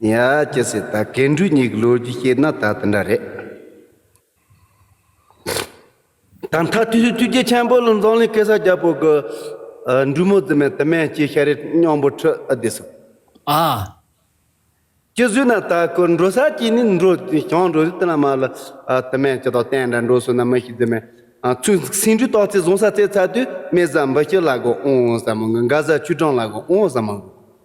ཡ། ཅི་ཟེར་ད་གེ་འབྲུག་གཉིས་ཀྱི་ལོ་རྒྱུས་བཤད་ན་ད་དེ་འདྲ་རེད། ད་མཐའ་དུས་སུ་བཅུ་གཅིག་ཆེན་པོ་ལ་འཛམ་གླིང་གེ་སར་རྒྱལ་པོ་གི་འབྲུག་མོ་རྫི་མས་དུ་མས་སྐྱེས་ཤ་རེ་སྙམ་པོ་ཁྲི་ཨ་བདེ་སོང། ཨ། ཅི་ཟོས་ན་ད་ཁོ་འགྲོ་ས་ཅི་ནས་འགྲོ་བྱང་འགྲོ་རེད་དེ་ལ་མ་ལ་དུ་མས་ཅི་དང་གཏན་འདྲ་འགྲོ་སོང་ན་མི་ཤི་རྫི་མས་ཚུར་སེང་འབྲུག་སྟག་རྩེ་བཟུང་ས་རྩེ་ཚར་དུས་སྨད་བཟའ་འབུ་སྐྱེར་ལ་སྒོ་ཨོང་ཨོང་ཟ་མ་ངུ་འགའ་བཟའ་ཆུ་སྦྲང་ལ་སྒོ་ཨོང་ཨོང་ཟ་མ་ངུ།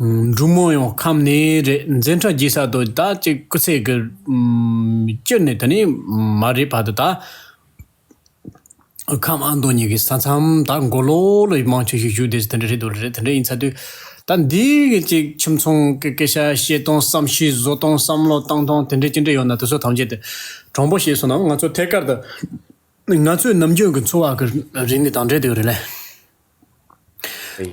འབྲུག་མོ་ཡང་ཁམས་ནས་རེད་འཛིན་གྲྭ་རྒྱས་ས་དོ་ད་ཅིག་སྐུ་ཚེ་གི། བཅུ་ནས་དེ་ནས་མ་རེད་བར་དུ་ད། ཁམས་ཨ་མདོ་གཉིས་ཀྱི་ས་མཚམས་ད་མགོ་ལོག་ལོག་ཡིན་མང་ཆེ་ཤོས་བཞུགས་འདེད་དེ་འདྲ་རེད་དོ་རེད་དེ་འདྲ་ཡིན་ཚ་དུས། ད་འདི་གི་ཅིག་ཁྱིམ་ཚང་གི་སྐད་ཆ་བཤད་སྟངས་བསམ་ཤེས་བཟོ་སྟངས་བསམ་བློ་བཏང་སྟངས་དེ་འདྲ་ཅི་འདྲ་ཡོད་ན་དེ་ཚོ་ཐམས་ཅད་དུ། དྲང་པོ་བཤད་སོང་ན་ང་ཚོ་ཐད་ཀར་དུ། ང་ཚོའི་ནམ་རྒྱུན་གྱི་འཚོ་བ་གི་རིག་གནས་དང་འབྲེལ་དེ་རེད་ལ།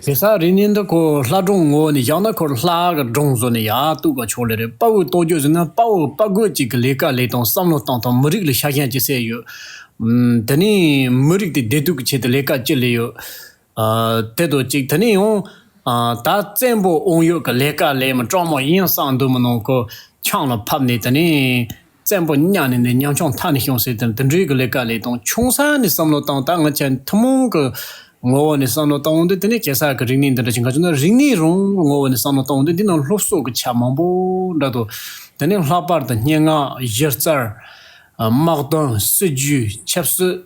གེ་སར་རིག་གནས་འདི་ཁོ་ལྷ་སྒྲུང་ངོ་བོ་ནས་བཞག་ན་ཁོ་ལྷ་གི་སྒྲུང་བཟོ་ནས་ཡག་གཏུག་པ་ཆོག་ལེ་རེད་དཔའ་བོའི་རྟོགས་བརྗོད་ཟེར་ན་དཔའ་བོ་དཔའ་རྒོད་ཅིག་གི་ལས་ཀ་ལས་དང་བསམ་བློ་སྟངས་དང་མི་རིགས་ལ་ཤ་ཞེན་ཅི་སེ་ཡོད། དེ་ནས་མི་རིགས་དེ་བདེ་སྡུག་གི་ཆེད་དུ་ལས་ཀ་ཅི་ལས་ཡོད། དེ་དང་གཅིག་དེ་ནས་ཡང། ད་བཙན་པོ་དབང་ཡོད་ཀྱི་ལས་ཀ་ལས་མི་གྲངས་མང་ཡིན་བསམ་འདོད་མི་ནང་གི་ཆང་ལ་ཕབ་ནས་དེ་ནས། བཙན་པོ་གཉའ་ནས་ནས་ཉམ་ཆུང་མཐའ་ནས་ཤོང་ཟེར་དེ་འདི་འདྲའི་གི་ལས་ཀ་ལས་དང་ཆུང་ས་ནས་བསམ་བློ་བཏང་ད་ང་ཆེ་ཐུན་མོང་གི་ངོ་བོ་ནས་བསམ་བློ་བཏང་འོང་དུས་དེ་ནས་གེ་སར་གི་རིག་གནས་འདི་འདྲ་ཞིག་འགའ་བྱུང་ན་རིག་གནས་རང་གི་ངོ་བོ་ནས་བསམ་བློ་བཏང་འོང་དུས་འདི་ནང་སློབ་གསོ་གི་ཆ་མང་པོ་འདྲ་འདུག་དེ་ནས་ལྷག་པར་དུ་སྙན་ངག་གཞི་རྩར། དམག་དོན་སྲིད་ཇུས་ཆབ་སྲིད།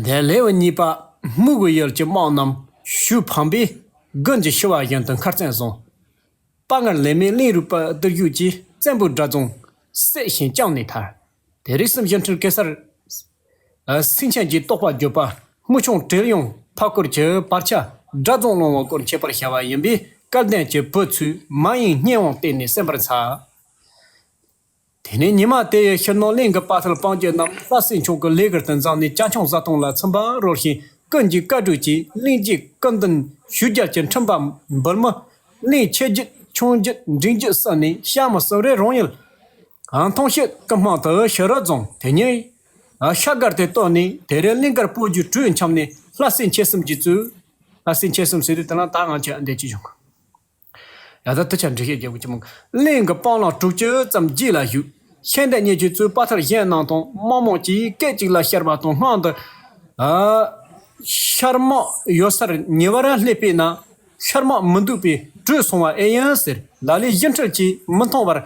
དེ་ལེའུ་གཉིས་པ། དམུ་གུ་ཡུལ་གྱི་དམག་རྣམས་ཞུ་འཕངས་པས་དགུན་གྱི་ཤི་བ་བཞིན་དུ་མཁར་བཙན་བཟུང། དཔའ་ངར་ལས་མེད་གླིང་རུས་པ་བརྟུལ་ཞུགས་ཀྱིས་བཙན་པོའི་དགྲ་བཙོང། བསད་ཤིང་བཅངས་ནས་ཐར། དེ་རིགས་སུམ་ཅུ་འཁྲུལ་ཀེ་སར། སིང་ཆེན་གྱིས་རྟོགས་པར་གྱུར་པ་དམུ་ཆུང་དྲེལ་གཡང་འཕགས་སྐོར་གྱི་བར་ཆད་དགྲ་བཙོང་སློང་བ་སྐོར་འཆད་པར་བྱ་བ་ཡིན་པས་སྐལ་ལྡན་གྱི་བུ་ཚུལ་མ་ཡིན་སྙན་དབང་བསྟན་ནས་གསན་པར་འཚལ། དེ་ནས་ཉི་མ་དེ་ཡི་ཕྱིར་ནོར་གླིང་གི་དཔའ་ཐུལ་སྤང་རྒྱུད་རྣམས་ལྷ་སྲིན་མཆོག་གི་ལས་ཀར་དུ་འཛངས་ནས་སྐྱ་ཁྱུང་བཟའ་བཏུང་ལ་ཚིམ་པར་རོལ་ཞིང་ཀུན་གྱིས་བཀའ་དྲོད་ཅིང་གླིང་རྗེས་བཀའ་མདུན་ཞུས་རྒྱ་ཆེར་འཕྲིན་པ་འབུལ། མི་གླིང་ཆེ་རྒྱུད་ཆུང་རྒྱུད་འབྲིང་རྒྱུད་བསྲེས་ནས་ཤར་མི་སོག་རའི་རོང་ཡུལ། གངས་ཐང་ཤུལ་དཀར་སྨག་ཏུ་ཤི་རོ་རྫོང་དེ་ཉིད། ཤ་སྒར་དེ་བཏོན་ནས་དེ་རིང་གླིང་དཀར་སྤོས་རྒྱུད་དྲུག་འཁྱམས་ནས་ལྷ་སྲིན་ཆེ་གསུམ་གྱིས་བཙུགས། ལྷ་སྲིན་ཆེ་གསུམ་ཟེར་དུས་དེ་ལ་ད་ང་ཆོས་ཨ་འདས་ཀྱིས་བྱུང། ཡང་དག་ཐུགས་ཆགས་འབྲེལ་ཤེས་རྒྱལ་པོ་ཆེན་མོ། གླིང་གི་སྤང་བླང་དྲུག་ཅུ་ཙམ་རྒྱུད་ལ་བཞུགས། ཤེས་ལྡན་མཉེས་བྱེད་བཙུན་དཔའ་ཐར་གཞན་རྣམས་དང། དམག་དམངས་ཀྱིས་སྐད་ཅིག་ལ་ཤར་བ་དང་སྔགས་འདི། ཤར་དམག་ཡོད་སར་ཉེ་བར་སླེབས་པས་ན། ཤར་དམག་མི་འདུག་པས་བྲོས་སོང་བ་ཨེ་ཡིན་ཟེར། ལ་ལས་གཞི་འཁྲིལ་གྱིས་མི་མཐོང་བར།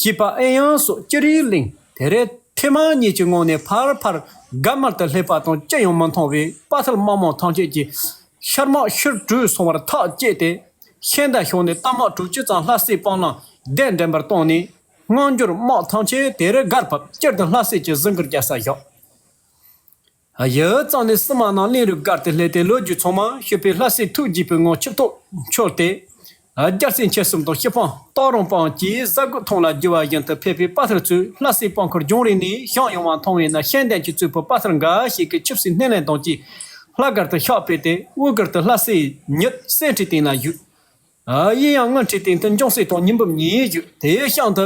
ཞེས་པ་ཨེ་ཡིན་སོགས་ཅི་རིགས་གླེང། དེ་རེས་ཐེངས་མ་གཉིས་ཀྱི་སྔོན་ནས་ཕར་ཕར་དགའ་མར་དུ་སླེབས་པ་དང་ཅི་ཡང་མི་མཐོང་བས་དཔའ་ཐར་དམག་དམངས་ཐམས་ཅད་ཀྱིས་ཤར་དམག་ཕྱིར་བྲོས་སོང་བར་ཐག་བཅད་དེ། ཤན་དང་ཞོག་ནས་རྟ་དམག་དྲུག་ཅུ་ཙམ་ལྷ་སའི་སྤང་བླང་གདན་འདྲེན་པར་བཏང་ནས། སྔ་འགྱུར་དམག་ཐམས་ཅད་དེ་རུ་སྒར་བབས་སྤྱིར་དུ་ལྷ་སའི་ཀྱི་གཟིགས་མགུར་རྒྱལ་སར་བཞག། གཞི་རྩ་ནི་སྲིད་དམག་རྣམས་གླིང་རུ་སྒར་དུ་སླེབས་ཏེ་ལོ་རྒྱུས་ཚང་མ་ཤོད་པས་ལྷ་སའི་ཐུགས་བགྱིས་པའི་ངང་ཆིབས་ཐོག་འཆོར་ཏེ། རྒྱ་རྩེ་མཆེད་གསུམ་དང་སྤྱི་སྤང་སྟག་རོང་སྤང་བཅས་གཟའ་རྒོད་ཐང་ལ་རྒྱུ་བ་བཞིན་དུ་ཕལ་པའི་དཔའ་ཐར་ཚོས་ལྷ་སའི་སྤང་ཁུར་རྒྱང་རིང་ནས་བཤངས་ཡོང་བ་མཐོང་བས་ན་ཤེས་ལྡན་གྱི་གཙོས་བུ་དཔའ་ཐར་འགའ་ཞིག་གིས་ཆིབས་སའི་སྣེ་ལེན་དང་བཅས་ལྷ་སྒར་དུ་ཕྱག་སྤེལ་ཏེ་དབུས་སྒར་དུ་ལྷ་སའི་ཉི་གསེང་ཁྲི་སྟེང་ལ་བཞུགས། གཡས་གཡང་ངུ་འཕྲིའི་སྟེང་དུ་འཇོང་སྲས་དང་ཉི་འབུམ་གཉིས་བཞུགས་དེའི་གཤང་དུ།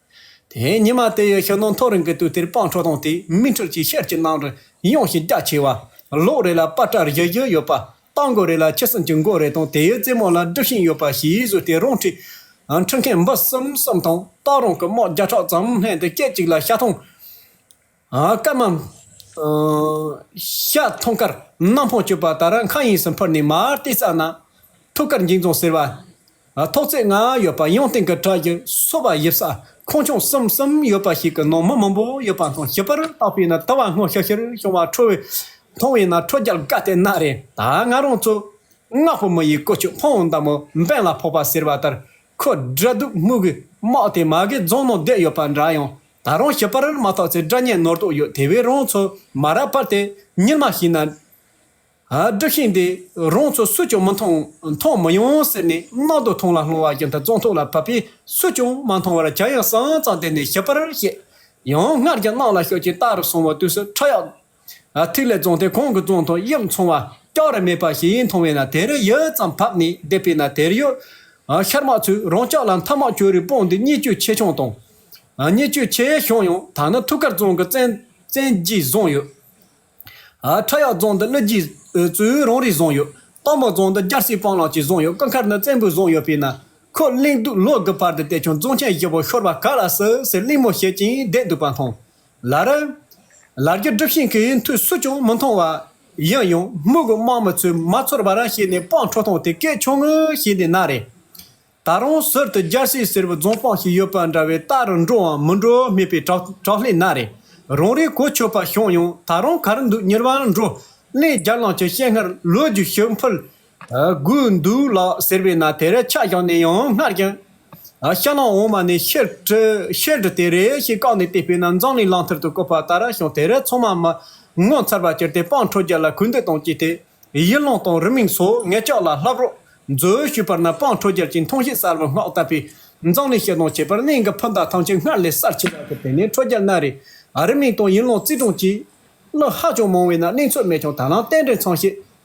དེའི་ཉི་མ་དེ་ཡི་ཤིང་སྡོང་མཐོ་རིང་གི་དུས་དེར་སྤང་ཁྲོ་དང་དེའི་དམིགས་ཁྲིད་ཀྱི་ཤེར་གྱི་སྣང་རུ་ཡངས་ཤིང་རྒྱ་ཆེ་བ། ལོགས་རེ་ལ་པ་ཏྲ་བཞི་བཞི་ཡོད་པ། སྟག་མགོ་རེ་ལ་ཁྱི་སྲིན་གྱི་མགོ་རེ་དང་དེའི་རྩེ་མོ་ལ་སྒྲིབ་ཤིང་ཡོད་པ་ཞེས་ཡིག་གཟུགས་དེ་རང་ཁྲིད། ཁྲིད་མཁན་འབུ་གསུམ་གསུམ་དང་སྟག་རོང་གི་དམག་བརྒྱ་ཕྲག་ཙམ་ལྷན་དུ་སྐད་ཅིག་ལ་ཤ་ཐང། སྐར་མ། ཤ་མཐོང་སྐར་སྣ་མང་སྤྱོད་པ་ལྟར་མཁའ་དབྱིངས་སུ་འཕུར་ནས་མར་ལྟས་བཙགས་ན། ཐུགས་ཀར་འགྱིང་རྫོང་ཟེར་བ། ཐོག་བརྩེགས་ལྔ་ཡོད་པ་ཡང་སྟེང་གི་བྲག་གི་སོ་བ་དབྱིབས་ས་ཁོངས་ཆུང་གསུམ་གསུམ་ཡོད་པ་ཞིག་གི་ནང་མི་མང་པོ་ཡོད་པ་མཐོང་ཞིབ་པར་བརྟགས་པས་ན་ལྟ་བ་སྔོ་ཤིར་ཤིར་བྱུང་བ་འཕྲོ་བས་མཐོང་བས་ན་འཕྲོ་རྒྱལ་དགའ་ལྟས་སྣ་རེད་ད་ང་རང་ཚོ་སྔགས་པོ་མི་ཡི་ཀོ་ཆུ་འཕང་མདའ་མོ་འབེན་ལ་ཕོག་པ་ཟེར་བ་ལྟར་ཁོ་སྦྲ་སྡུག་སྨུག་གི་དམག་དེ་མ་གི་རྫོང་ནང་བསྡད་ཡོད་པ་འདྲ་ཡང་ད་རུང་ཞི་པར་མ་ཐག་ཚེ་དགྲ་གཉེན་ནོར་དོགས་ཡོད་དེ་བས་རང་ཚོ་མ་རབས་པར་དེ་ཉིད་མ་ཤེས་ན། སྒྲིག་ཤིང་འདི་རང་ཚོ་སུས་ཀྱང་མི་མཐོང་མཐོང་མི་ཡོང་ཟེར་ནས་ནང་དུ་ཐོང་ལ་སློང་བ་བཞིན་དུ་བཙོང་ཐོག་ལ་ཕབ་པས་སུས་ཀྱང་མ་མཐོང་བར་བྱ་ཡང་སང་ཙང་དེ་ནས་ཞི་པར་བཤད། ཡང་སྔར་གྱི་གནང་ལ་ཤོག་ཅིག་རྟགས་རུ་སོང་བ་དུས་སུ་ཁྲག་ཡག་ཐིག་ལེ་བཙོངས་ཏེ་གོང་གི་བཙོངས་དང་དབྱིབས་མཚུངས་བ་སྐྱག་རི་མེད་པ་ཞིག་ཡིན་མཐོང་བས་ན་དེ་རིང་ཡུད་ཙམ་བབས་ནས་བསྡད་པས་ན་དེར་ཡོད། ཤར་མ་ཚོས་རང་ཅག་ལ་མཐའ་མ་ཁྱོད་རིགས་དཔུང་འདི་སྙིགས་དཔྱོད་ཆེ་ཆུང་དང། སྙིགས་དཔྱོད་ཆེ་ཆུང་ཡང་དག་ནི་ཐུགས་ཁར་བཙོངས་ཀྱི་བཙན་གྱིས་བཟུང་ཡོད། ཁྲག་ཡག་བཙོངས་འདི་གླུད་གྱིས་ཙོའི་རང་རིགས་བཟུང་ཡོད། སྟག་མོ་བཙོངས་འདི་རྒྱལ་སྲིད་སྤང་བླང་གྱིས་བཟུང་ཡོད་སྐུ་མཁར་ནི་བཙན་པོས་བཟུང་ཡོད་པས་ན། ཁོ་གླེང་འདུག་ལོ་དགུ་བར་དུ་བསྡད་ཀྱང་བཙོངས་ཆེན་བཞི་པོ་ཤོར་བ་ག་ལ་སྲིད་ཟེར་གླེང་མོ་བྱེད་ཀྱིན་བསྡད་འདུག་པ་མཐོང། ལར། ལར་རྒྱུ་སྒྲུབ་ཤིང་གི་མཐུས་སུ་ཅུང་མི་མཐོང་བ། ཡང་ཡང་སྨུག་གི་དམག་མི་ཚོས་མ་ཚོར་བར་བྱས་ནས་སྤང་འཕྲོ་བཏང་དེ་སྐད་ཆུང་ངུ་བྱས་ནས་ན་རེ། ད་རུང་ཟུར་དུ་རྒྱལ་སྲས་སེར་བུ་རྫོང་སྤང་ཞིག་ཡོད་པ་འདྲ་བས་རྟ་རུ་འགྲོའམ་མི་འགྲོ་སྨྲས་པས་དྲག་ལྷས་ན་རེ། རང་རེའི་གོ་ཆོད་པ་བྱུང་ཡང་ད་རུང་གར་འདུག་མྱུར་བར་འགྲོ། ལན་བརྒྱར་ལངས་ཀྱི་སྤྱན་སྔར་ལོ་རྒྱུས་ཞིག་འཕུལ། དགོས་འདུག་ལགས་ཟེར་བས་ན་དེར་ཆ་བཞག་ནས་ཡང་སྔར་བཞིན། ཤ་ལང་འོ་མ་ནས་ཤེལ་གྲི་ཤེལ་གྲི་དེ་རེ་ཞིག་བཀག་ནས་བལྟས་པས་ན་འཛམ་གླིང་གླང་ཐར་དུ་བཀོད་པ་ལྟར་ཤིང་དེར་ཚང་མ་མི་ངོ་མཚར་བར་གྱུར་ཏེ་སྤང་འཕྲོ་རྒྱག་ལ་གུས་འདུད་དང་བཅས་ཏེ། ཡིད་ལོངས་དང་རིམ་མིང་སོགས་ངེད་ཅག་ལ་ལྷབ་རོགས་མཛོད་ཞུས་པར་ན་སྤང་འཕྲོ་རྒྱལ་གྱིས་མཐོང་བྱེད་གསར་བུ་སྔགས་བཏབ་པས། འཛམ་གླིང་ཞེ་སྡང་བྱེད་པར་གནས་འགའ་ཕུ་མདའ་ཐམས་ཅད་སྔར་ལས་གསར་ཆེ་བར་གྱུར་ཏེ་ནས་འཕྲོ་རྒྱལ་སྣ་རེ། རིམ་མིང་དང་ཡིད་ལོངས་རྩིས་དྲུང་བཅས། གླུ་ཧ་ཅང་མང་བས་ན་གླིང་ཚོགས་མས་ཀྱང་ད་ལམ་རྟེན་འབྲེལ་ཚང་ཞེས་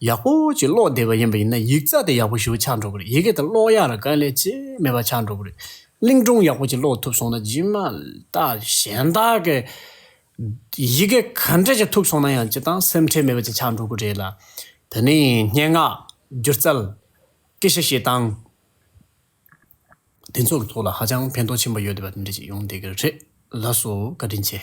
ཡག་པོ་ཅིག་ཀློག་བསྡད་པ་ཡིན་པ་ཡིན་ན་ཡིག་རྩ་དེ་ཡག་པོ་ཞིག་ཆགས་འགྲོ་གི་རེད་ཡི་གེ་དེ་ཀློག་ཡག་ལ་དཀའ་ལས་ཅི་མེད་པ་ཆགས་འགྲོ་གི་རེད། གླིང་སྒྲུང་ཡག་པོ་ཅིག་ཀློག་ཐུབ་སོང་ན་ཇི་མ་ཏག་གཞན་དག་གིས་ཡི་གེ་ག་འདྲ་ཞིག་ཐུབ་སོང་ན་ཡང་ཅི་དང་སེམས་ཁྲལ་མེད་པ་ཅིག་ཆགས་འགྲོ་གི་རེད་ལ། དེ་ནས་སྙན་ངག། སྒྱུ་རྩལ། སྐད་ཆ་བཤད་སྟངས། དེ་ཚོ་གི་ཐོག་ལ་ཧ་ཅང་ཕན་ཐོགས་ཆེན་པོ་ཡོད་བསྡད་པ་འདི་འདྲ་ཅིག་ཡོང་བསྡད་གི་རེད་ལགས་སོ་བཀའ་དྲིན་ཆེ།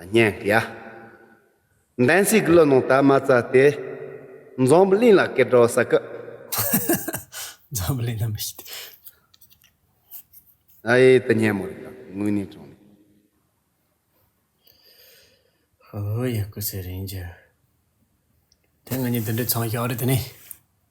སྙན་དཀྱིལ། བདེན་ཚིག་གླུ་ནང་དར་མ་རྩ་སྟེ། འཛམ་བུ་གླིང་ལ་སྐད་སྒྲོག་ས་ཀི། འཛམ་བུ་གླིང་ལ་མི་ཤེས་དེ། ཨ་ཡེ་དུ་སྙན་མོ་རེད་དང་དངོས་གནས་དྲང་ནས། ཧོ་ཧོ་ཡག་གི་ཟེར་རིན་རྒྱུ། དེ་ང་གཉིས་འདི་འདྲའི་ཚང་ཞག་རེད་དེ་ནི།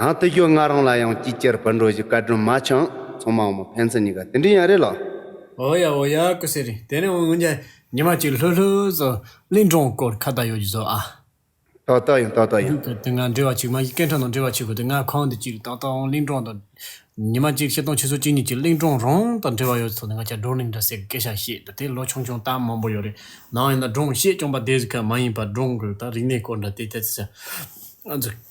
ཨང་ཏི་ཤོ་ང་རང་ལ་ཡང་སྐྱིད་ཅེར་བུར་འགྲོ་བཞིན་བཀའ་དྲིན་མ་འཆང་ཚང་མ་འོང་མོ་ཕན་ཚུན་གཉིས་ཀ་དེ་འདྲའི་ཡང་རེད་ལགས། འོ་ཡ་འོ་ཡ་ཀུ་སེ་རེད་དེ་ནས་འོང་འོང་རྒྱ་ཉི་མ་གཅིག་ལྷོད་ལྷོད་བཟོ་གླིང་སྒྲུང་སྐོར་ཁ་བརྡ་ཡོད་རྒྱུ་བཟོ་ཨ། ཏོག་ཏོག་ཡིན་ཏོག་ཏོག་ཡིན། སྒྲུང་དེ་ང་འབྲི་བ་ཅིག་མ་གཞི་སྐད་འཕྲོ་ནང་འབྲི་བ་ཆེ་གོ་དེ་ང་ཁང་འདི་གཅིག་ཏོག་ཏོག་འོང་གླིང་སྒྲུང་དང། ཉི་མ་གཅིག་ཤེལ་སྟོང་ཆུ་ཟོ་གཅིག་གཉིས་ཀྱི་གླིང་སྒྲུང་རང་དང་འབྲེལ་བ་ཡོད་སོགས་ནི་ང་ཅག་སྒྲུང་གླིང་འདྲ་སའི་སྐད་ཆ་བཤད་འདུག་དེ་ལོ་ཆུང་ཆུང་ལྟར་མང་པོ་ཡོད་རེད་ནའང་ཡིན་ན་སྒྲུང་བཤད་སྐྱོང་པ་དེ་གཟིགས་ཁ་མ་ཡིན་པར་སྒྲུང་གི་དང་རིག་གནས་སྐོར་འདྲ་དེ་ལྟ་ཅི་ཟེར།